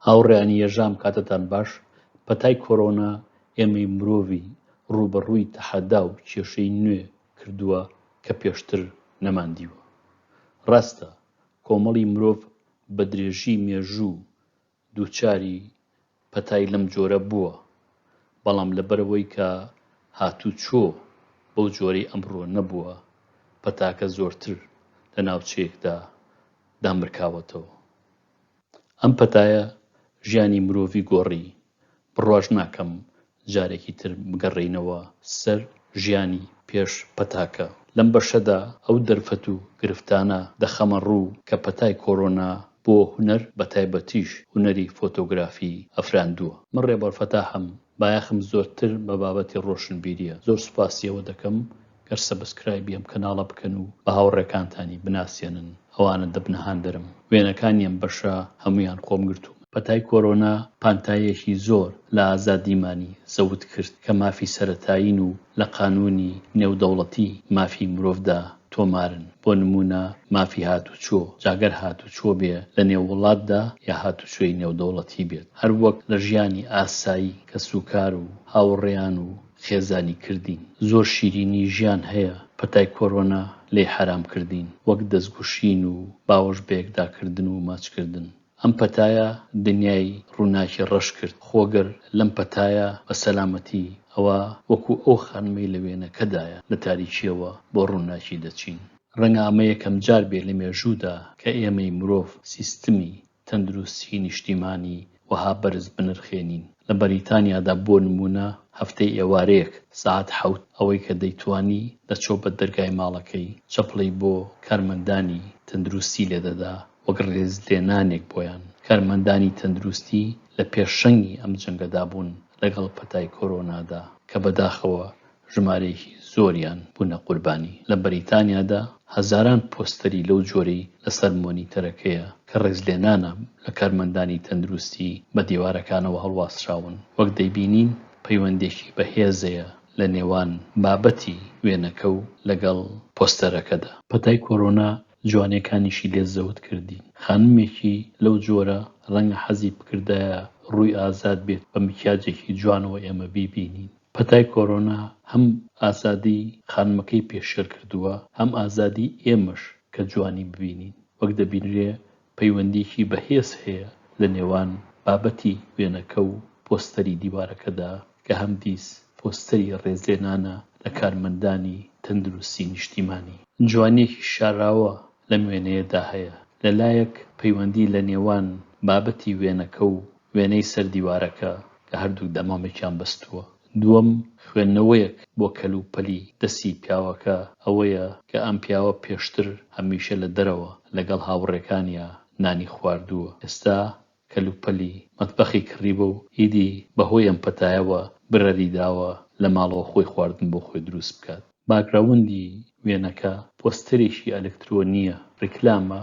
هاوڕێیانی یەژام کاتتان باش، پەتای کۆرۆنا ئێمەی مرۆڤی ڕووبەڕووی تەحەدا و کێشەی نوێ کردووە کە پێشتر نەمان دیوە. ڕاستە کۆمەڵی مرۆڤ بە درێژی مێژوو دووچاری پەتای لەم جۆرە بووە، بەڵام لەبەرئەوەی کە هاتووچۆ بەو جۆرەی ئەمڕۆ نەبووە، پەتاکە زۆرتر لە ناوچەیەکدا دامرکاوەتەوە. ئەم پەتایە ژیانی مرۆڤی گۆڕی. بڕواش ناکەم جارێکی تر بگەڕێینەوە سەر ژیانی پێش پەتاکە. لەم بەشەدا ئەو دەرفەت و گرفتانە دەخەمە ڕوو کە پەتای کۆرۆنا بۆ هونەر بە تایبەتیش هونەری فۆتۆگرافی ئەفراندووە. من ڕێبەر فەتاحم، بایەخم زۆرتر بە بابەتی ڕۆشنبیرییە. زۆر سوپاسی ئەوە دەکەم گەر سەبسکرایبی ئەم کەناڵە بکەن و بە هاوڕێکانتانی بناسێنن ئەوانە دەبنە هاندەرم وێنەکانی ئەم بەشە هەموویان خۆم گرتوومە. پەتای کۆرۆنا پانتاییەکی زۆر لە ئازادیمانی زەوت کرد کە مافی سەرەتایین و لە قانوونی نێودەوڵەتی مافی مرۆڤدا تۆمارن بۆ نموونە مافی هاتوچۆ جاگەر هاتوچۆ بێ لە نێو وڵاتدا یا هاتوچۆی نێودەوڵەتی بێت هەروەک لە ژیانی ئاسایی کەسوکار و هاوڕێیان و خێزانی کردین زۆر شیرینی ژیان هەیە پەتای کۆرۆنا لێی حەرام کردین وەک دەست گوشین و باوەش بەیەکدا کردن و ماچ کردن ئەم پەتایە دنیای ڕوناکی ڕەش کرد خۆ گەر لەم پەتایە بە سەلامەتی ئەوا وەکو ئەو خانمەی لە وێنەکەدایە لە تاریکیەوە بۆ ڕوناکی دەچین. ڕەنگە ئەمە یەکەم جار بێ لە مێژوودا کە ئێمەی مرۆڤ سیستمی تەندروستیی نیشتیمانی وەها بەرز بنرخێنین. لە بەریتانیادا بۆ نموونە هەفتەی ئێوارەیەک سەعات حەوت ئەوەی کە دەیتوانی دەچۆ بە دەرگای ماڵەکەی، چەپڵەی بۆ کارمەندانی تەندروستی لێ دەدا وەک ڕێزلێنانێک بۆیان. کارمەندانی تەندروستی لە پێشەنگی ئەم جەنگەدا بوون لەگەڵ پەتای کۆرۆنادا کە بەداخەوە ژمارەیەکی زۆریان بوونە قوربانی. لە بەریتانیادا هەزاران پۆستەری لەو جۆرەی لەسەر مۆنیتەرەکەیە کە ڕێزلێنانە لە کارمەندانی تەندروستی بە دیوارەکانەوە هەڵواسراون. وەک دەیبینین پەیوەندێکی بەهێزەیە لە نێوان بابەتی وێنەکە و لەگەڵ پۆستەرەکەدا. پەتای کۆرۆنا جوانێکانیشی لێ زەوت کردین. خانمێکی لەو جۆرە ڕەنگە حەزی بکردایە ڕووی ئازاد بێت بە مکیاجێکی جوانەوە ئێمە بیبینین. پەتای کۆرۆنا هەم ئازادی خانمەکەی پێشێل کردووە، هەم ئازادی ئێمەش کە جوانی ببینین. وەک دەبینرێ پەیوەندییەکی بەهێز هەیە لە نێوان بابەتی وێنەکە و پۆستەری دیوارەکەدا کە هەمدیس پۆستەری ڕێزلێنانە لە کارمەندانی تەندروستی نیشتیمانی. جوانییەکی شاراوە لەم وێنەیەدا هەیە، لە لایەک پەیوەندی لە نێوان بابەتی وێنەکە و وێنەی سەر دیوارەکە کە هەردووک دەمامکیان بەستووە. دووەم، خوێندنەوەیەک بۆ کەلوپەلی دەستی پیاوەکە ئەوەیە کە ئەم پیاوە پێشتر هەمیشە لە دەرەوە لەگەڵ هاوڕێکانیا نانی خواردووە، ئێستا کەلوپەلی مەتبەخی کڕیوە و ئیدی بە هۆی ئەم پەتایەوە برەری داوە لە ماڵەوە خۆی خواردن بۆ خۆی دروست بکات. باکگراوندی وێنەکە پۆستەرێکی ئەلکترۆنییە، ڕیکلامە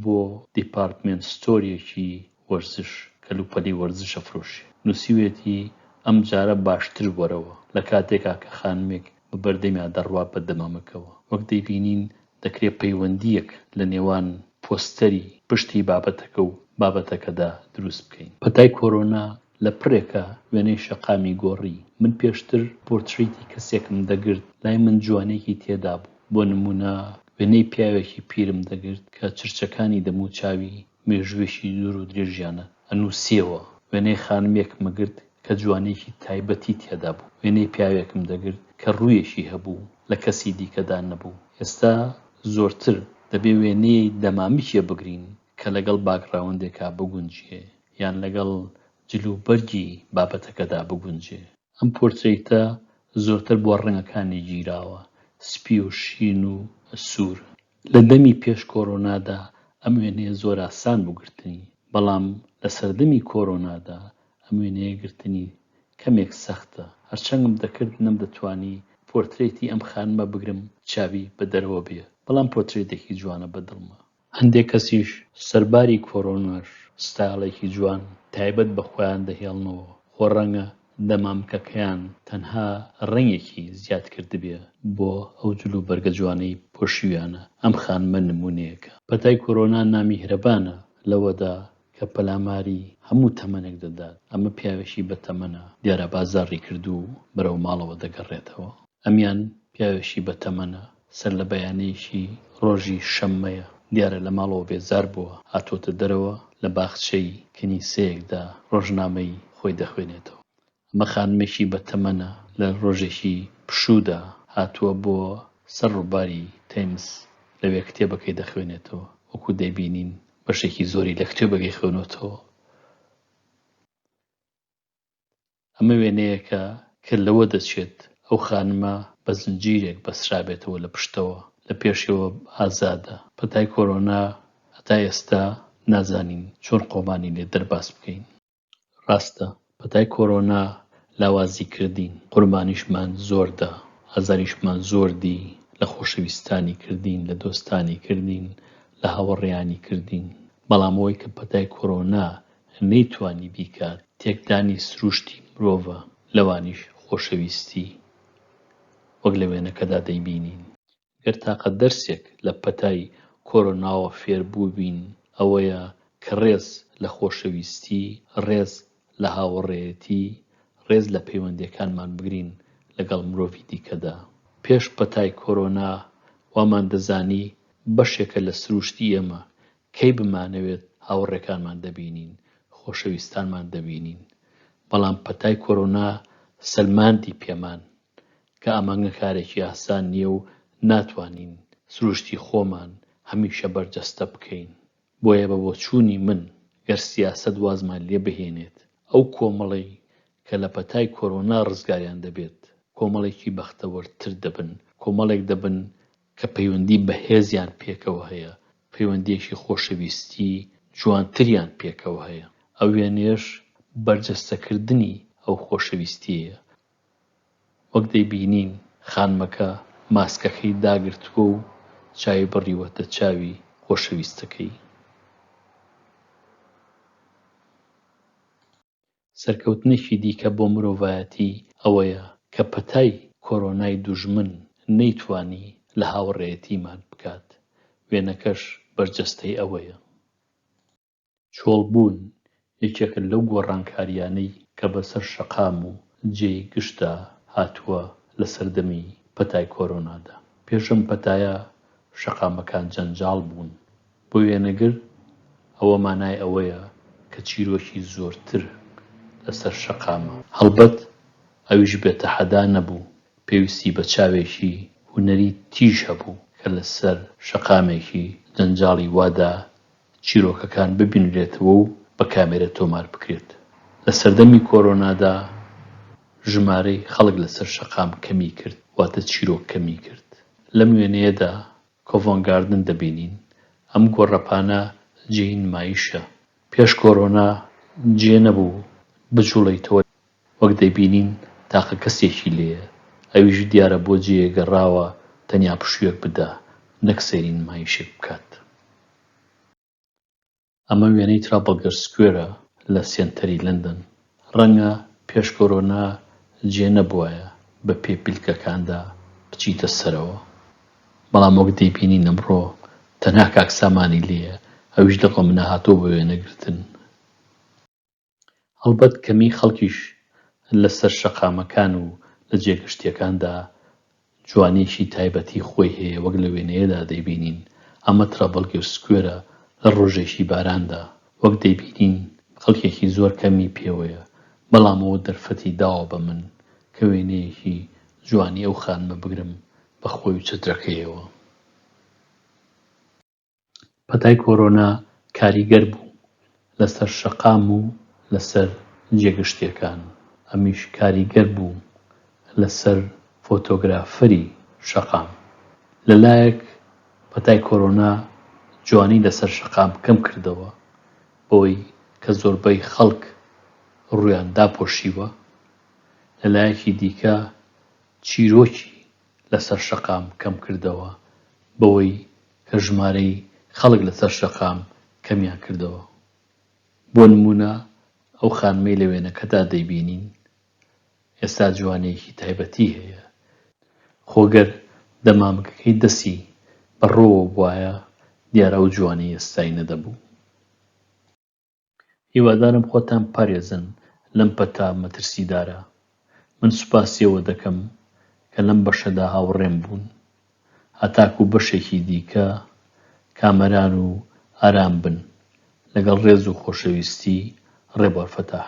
بۆ دیپارتمێنت ستۆریەکی وەرزش کەلوپەلی وەرزشە فرۆشی نووسیویەتی، ئەمجارە باشتر وەرەوە، لە کاتێکا کە خانمێک بە بەردەمیا دەڕوات بە دەمامکەوە، وەک دەیبینین دەکرێ پەیوەندییەک لە نێوان پۆستەری پشتی بابەتەکە و بابەتەکەدا دروست بکەین. پەتای کۆرۆنا لە پڕێکا وێنەی شەقامی گۆڕی، من پێشتر پۆرتریتی کەسێکم دەگرت لای من جوانییەکی تێدابوو، بۆ نموونە وێنەی پیاوێکی پیرم دەگرت کە چرچەکانی دەموچاوی مێژووێکی دوور و درێژیانە ئەنووسیەوە، وێنەی خانمێکم گرت کە جوانییەکی تایبەتی تێدا بوو، وێنەی پیاوێکم دەگرت کە ڕوویەکی هەبوو لە کەسی دیکەدا نەبوو، ئێستا زۆرتر دەبێ وێنەی دەمامکێ بگرین کە لەگەڵ باکگراوندێکا بگونجێ یان لەگەڵ جل و بەرگی بابەتەکەدا بگونجێ. ئەم پۆرترەیتە زۆرتر بۆ ڕەنگەکانی گیراوە، سپی و شین و سوور، لە دەمی پێش کۆرۆنادا ئەم وێنەیە زۆر ئاسان بوو گرتنی، بەڵام لە سەردەمی کۆرۆنادا ئەم وێنەیە گرتنی کەمێک سەختە، هەرچەنگم دەکرد نەمدەتوانی پۆرترەیتی ئەم خانمە بگرم چاوی بە دەرەوە بێ، بەڵام پۆترەیتێکی جوانە بە دڵمە. هەندێک کەسیش سەرباری کۆرۆناش ستایڵێکی جوان تایبەت بە خۆیان دەهێڵنەوە، خۆ ڕەنگە دەمامکەکەیان تەنها ڕەنگێکی زیاد کردبێ بۆ ئەو جل و بەرگە جوانەی پۆشیویانە، ئەم خانمە نموونەیەکە. پەتای کۆرۆنا نامیهرەبانە لەوەدا کە پەلاماری هەموو تەمەنێک دەدات، ئەمە پیاوێکی بەتەمەنە، دیارە بازاڕی کردوو و بەرەو ماڵەوە دەگەڕێتەوە. ئەمیان پیاوێکی بەتەمەنە، سەرلەبەیانیەکی ڕۆژی شەممەیە دیارە لەماڵەوە بێزار بووە هاتووەتە دەرەوە لە باخچەی کنیسەیەکدا ڕۆژنامەی خۆی دەخوێنێتەوە ئەمە خانمێکی بە تەمەنە لە ڕۆژێکی پشوودا هاتووە بۆ سەر ڕوباری تەیمس لەوێ کتێبەکەی دەخوێنێتەوە وەکو دەیبینین بەشێکی زۆری لە کتێبەکەی خوێنۆتەوە. ئەمە وێنەیەکە کە لەوە دەچێت ئەو خانمە بە زنجیرێک بەسترابێتەوە لە پشتەوە، لە پێشەوە ئازادە. پەتای کۆرۆنا هەتا ئێستا نازانین چۆن خۆمانی لێ دەرباز بکەین. ڕاستە پەتای کۆرۆنا لاوازی کردین، قوربانیشمان زۆر دا، ئازاریشمان زۆر دی، لە خۆشەویستانی کردین، لە دۆستانی کردین، لە هاوەڕێیانی کردین، بەڵام ئەوەی کە پەتای کۆرۆنا نەیتوانی بیکات، تێکدانی سروشتی مرۆڤە، لەوانیش خۆشەویستی، وەک لە وێنەکەدا دەیبینین. گەر تاقە دەرسێک لە پەتای کۆرۆناوە فێربووبین، ئەوەیە کە ڕێز لە خۆشەویستی، ڕێز لە هاوەڕێیەتی، ڕێز لە پەیوەندییەکانمان بگرین لەگەڵ مرۆڤی دیکەدا. پێش پەتای کۆرۆنا وامان دەزانی بەشێکە لە سروشتی ئێمە کەی بمانەوێت هاوڕێکانمان دەبینین، خۆشەویستانمان دەبینین، بەڵام پەتای کۆرۆنا سەلماندی پێمان کە ئەمەگە کارێکی ئاسان نییە و ناتوانین سروشتی خۆمان هەمیشە بەرجەستە بکەین، بۆیە بە بۆچوونی من گەر سیاسەت وازمان لێ بهێنێت ئەو کۆمەڵەی کە لە پەتای کۆرۆنا ڕزگاریان دەبێت کۆمەڵێکی بەختەوەرتر دەبن، کۆمەڵێک دەبن کە پەیوەندی بەهێزیان پێکەوە هەیە، پەیوەندییەکی خۆشەویستی جوانتریان پێکەوە هەیە. ئەو وێنەیەش بەرجەستەکردنی ئەو خۆشەویستییەیە. وەک دەیبینین خانمەکە ماسکەکەی داگرتووە و چاوی بڕیوەتە چاوی خۆشەویستەکەی. سەرکەوتنێکی دیکە بۆ مرۆڤایەتی ئەوەیە کە پەتای کۆرۆنای دوژمن نەیتوانی لە هاوڕێیەتی ماک بکات، وێنەکەش بەرجەستەی ئەوەیە. چۆڵبوون یەکێکە لەو گۆڕانکارییانەی کە بەسەر شەقام و جێی گشتدا هاتووە لە سەردەمی پەتای کۆرۆنادا. پێش ئەم پەتایە شەقامەکان جەنجاڵ بوون، بۆ وێنەگر، ئەوە مانای ئەوەیە کە چیرۆکی زۆرتر لەسەر شەقامە. هەڵبەت ئەویش بێ تەحەدا نەبوو، پێویستی بە چاوێکی هونەری تیژ هەبوو کە لەسەر شەقامێکی جەنجاڵی وادا چیرۆکەکان ببینرێتەوە و بە کامێرە تۆمار بکرێت. لە سەردەمی کۆرۆنادا ژمارەی خەڵک لەسەر شەقام کەمی کرد، واتە چیرۆک کەمی کرد. لەم وێنەیەدا کۆڤۆنت گاردن دەبینین، ئەم گۆڕەپانە جێی نمایشە. پێش کۆرۆنا جێ نەبوو بجوڵێیتەوە وەک دەیبینین تاقە کەسێکی لێیە، ئەویش دیارە بۆ جێیەک گەڕاوە تەنیا پشوویەک بدا نەک سەیری نمایشێک بکات. ئەمە وێنەی ترافەلگەر سکوێرە لە سێنتەری لەندەن، ڕەنگە پێش کۆرۆنا جێ نەبوایە بە پێی پلکەکاندا بچیتە سەرەوە، بەڵام وەک دەیبینین ئەمڕۆ تەنها کاک سامانی لێیە، ئەویش لە ڕۆمنە هاتووە بە وێنەگرتن. هەڵبەت کەمیی خەڵکیش لەسەر شەقامەکان و لە جێ گشتییەکاندا جوانییەکی تایبەتیی خۆی هەیە، وەک لە وێنەیەدا دەیبینین، ئەمە ترابەلگێر سکوێرە لە ڕۆژێکی باراندا، وەک دەیبینین خەڵکێکی زۆر کەمی پێوەیە، بەڵام ئەوە دەرفەتی داوە بە من کە وێنەیەکی جوانی ئەو خانمە بگرم بە خۆی و چەترەکەیەوە. پەتای کۆرۆنا کاریگەر بوو لەسەر شەقام و لەسەر جێگشتیەکان، ئەمیش کاریگەر بوو لەسەر فۆتۆگرافەری شەقام. لەلایەک پەتای کۆرۆنا جوانی لەسەر شەقام کەم کردەوە بەوەی کە زۆربەی خەڵک ڕوویان داپۆشیوە، لەلایەکی دیکە چیرۆکی لەسەر شەقام کەمکردەوە بەوەی کە ژمارەی خەڵک لەسەر شەقام کەمیان کردەوە. بۆ نموونە ئەو خانمەی لە وێنەکەدا دەیبینین ئێستا جوانییەکی تایبەتی هەیە، خۆ گەر دەمامکەکەی دەستی بە ڕۆوە بوایە دیارە ئەو جوانیی ئێستای نەدەبوو. هیوادارم خۆتان بپارێزن لەم پەتا مەترسیدارە. من سوپاسی ئەوە دەکەم کە لەم بەشەدا هاوڕێم بوون. هەتاکوو بەشێکی دیکە کامەران و ئارام بن. لەگەڵ ڕێز و خۆشەویستی، ڕێبوار فەتاح.